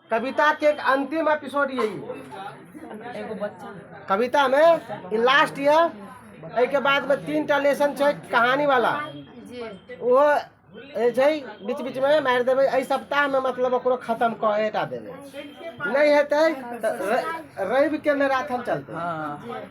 कविता के एक अंतिम एपिसोड ये एगो बच्चा कविता में ई लास्ट ये एहि के बाद में तीन टा लेसन छै कहानी वाला जी वो ए छै बीच बीच में मारि देबै एहि सप्ताह में मतलब ओकरो खत्म कऽ एटा देबै नहि हेतै तऽ र- रवि के मैराथन चलतै हाँ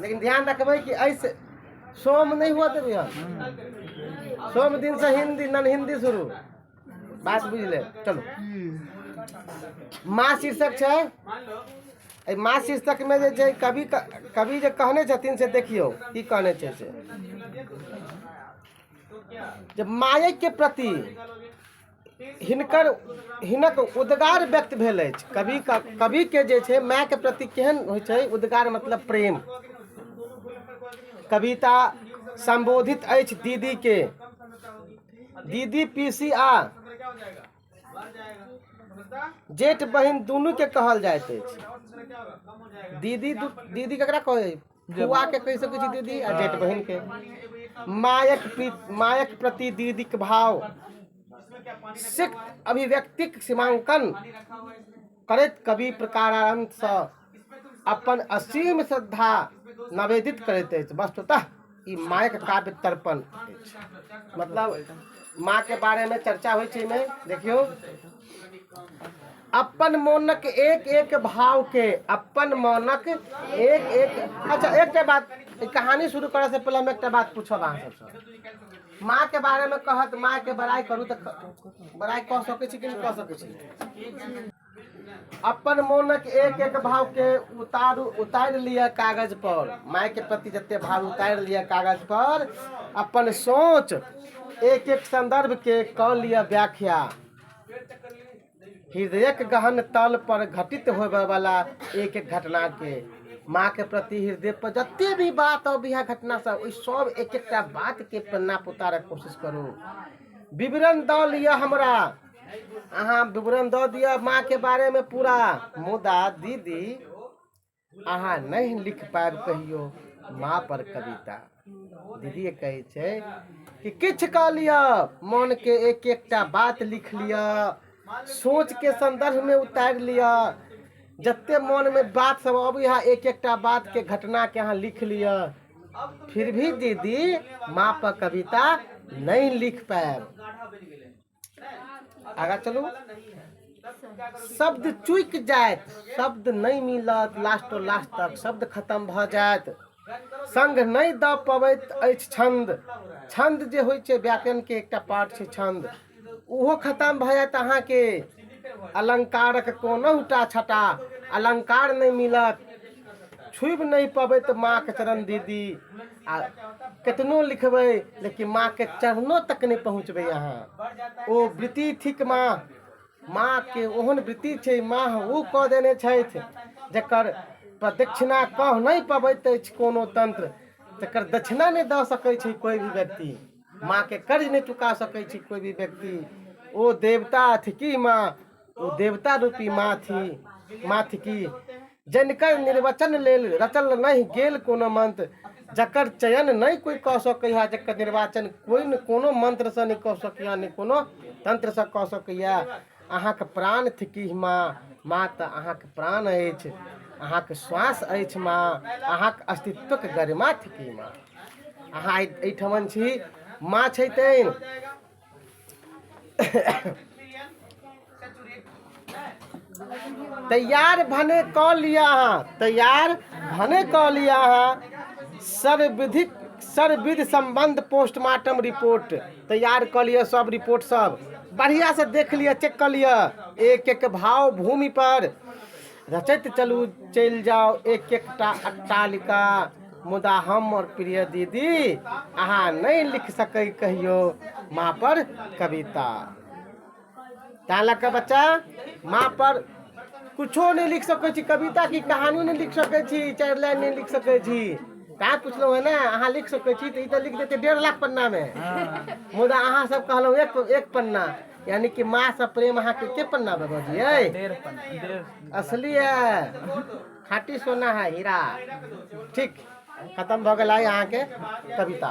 लेकिन ध्यान रखबै कि एहि से सोम नहि हुअ देबै हम सोम दिन से हिंदी नन हिंदी शुरू बात बुझले चलो माँ शीर्षक छै एहि माँ शीर्षकमे जे छै कवि कवि जे कहने छथिन से देखियौ की कहने छै से जे मायके प्रति हिनकर हिनक उद्गार व्यक्त भेल अछि कवि कविके जे छै मायके प्रति केहन होइ छै उद्गार मतलब प्रेम कविता संबोधित अछि दीदीके दीदी पिसी आ जेठ बहिन दुनू के कहल जाइत अछि दीदी दु- दीदी केकरा कहै फुआ के कहि सकै छी दीदी आ जेठ बहिन के मायक प्री- मायक प्रति दीदीक भाव सिक्त अभिव्यक्तिक सीमांकन करैत कवि प्रकारांतसँ अपन असीम श्रद्धा नवेदित करैत अछि वस्तुतः ई मायक काव्य तर्पण अछि मतलब माँ के बारे में चर्चा होइ छै में देखियो अपन मोनक एक एक भाव के अपन मोनक एक एक अच्छा एकटा बात ई कहानी शुरू करऽ से पहिले हम एकटा बात पूछब अहाँ सबसँ माँ के बारे में कहत माँ के बड़ाई करू तऽ बड़ाई कऽ सकै छी कि नहि कऽ सकै छी अपन मोनक एक एक भावके उतारू उतारि लिअ कागजपर मायके प्रति जतेक भाव उतारि लिअ कागजपर अपन सोच एक एक सन्दर्भके कऽ लिअ व्याख्या हृदयक गहन तल पर घटित होबयवला एक एक घटनाके माँके प्रति हृदयपर जतेक भी बात अब इएह घटनासभ ओहि सभ एक एकटा बातके पन्ना उतारयके कोशिश करू विवरण दऽ लिअ हमरा अहाँ विवरण दऽ दिअ माँके बारेमे पूरा मुदा दीदी अहाँ नहि लिख पायब कहियो माँ पर कविता दीदी कहै छै कि किछु कऽ लिअ मोनके एक एकटा बात लिख लिअ सोचके संदर्भमे उतारि लिअ जते मोनमे बात सब अबैया एक एकटा बातके घटनाके अहाँ लिख लिअ फिर भी दीदी माँ पर कविता नहि लिख पायब आगा चलू शब्द चुकि जायत शब्द नहि मिलत लास्टो लास्ट तक शब्द खतम भऽ जायत संग नहि दऽ पबैत अछि छन्द छन्द जे होइ छै व्याकरणके एकटा पार्ट छै छन्द ओहो खतम भऽ जायत अहाँके अलङ्कारक कोनहुटा छटा अलङ्कार नहि मिलत छुबि नहि पबैत माँके चरण दीदी आ केतनो लिखबै लेकिन माँके चरणो तक नहि पहुँचबै अहाँ ओ वृत्ति थिक माँ माँके ओहन वृत्ति छै माँ ओ कऽ देने छथि जकर प्रदक्षिणा कऽ नहि पबैत अछि कोनो तन्त्र तकर दक्षिणा नहि दऽ सकै छै कोइ भी व्यक्ति माँके कर्ज नहि चुका सकै छै कोइ भी व्यक्ति ओ देवता थिकी माँ ओ देवता रूपी माँ थी माँ थिकी जनिकर निर्वचन लेल रचल नहि गेल कोनो मंत्र जकर चयन नहि कोइ कऽ सकैए जकर निर्वाचन कोइ ने कोनो मंत्रसँ नहि कऽ सकैए नहि कोनो तंत्रसँ कऽ सकैए अहाँके प्राण थिकी माँ माँ तऽ अहाँके प्राण अछि अहाँके श्वास अछि माँ अहाँके अस्तित्वक गरिमा थिकी माँ अहाँ एहिठमन छी माँ छै तेँ तैयार भने कऽ लिअ अहाँ तैयार भने कऽ लिअ अहाँ सर्वविधिक सर्वविध सम्बन्ध पोस्टमार्टम रिपोर्ट तैयार कऽ लिअ सब रिपोर्ट सब बढ़िआँ से देख लिअ चेक कऽ लिअ एक एक भाव भूमि पर रचैत चलू चलि जाउ एक एकटा अट्टालिका मुदा हमर प्रिय दीदी अहाँ नहि लिख सकै कहियो माँ पर कविता तैँ लऽ कऽ बच्चा माँ पर कुछो नहि लिख सकै छी कविता की कहानी नहि लिख सकै छी चारि लाइन नहि लिख सकै छी तैँ पुछलहुँ है ने अहाँ लिख सकै छी तऽ ई तऽ लिख देतै डेढ़ लाख पन्नामे मुदा अहाँ सब कहलहुँ एक एक पन्ना यानी कि माँ से प्रेम अहाँ के पन्ना बाबा जी है असली है खाटी सोना है हीरा ठीक खत्म भऽ गेल अहाँ के कविता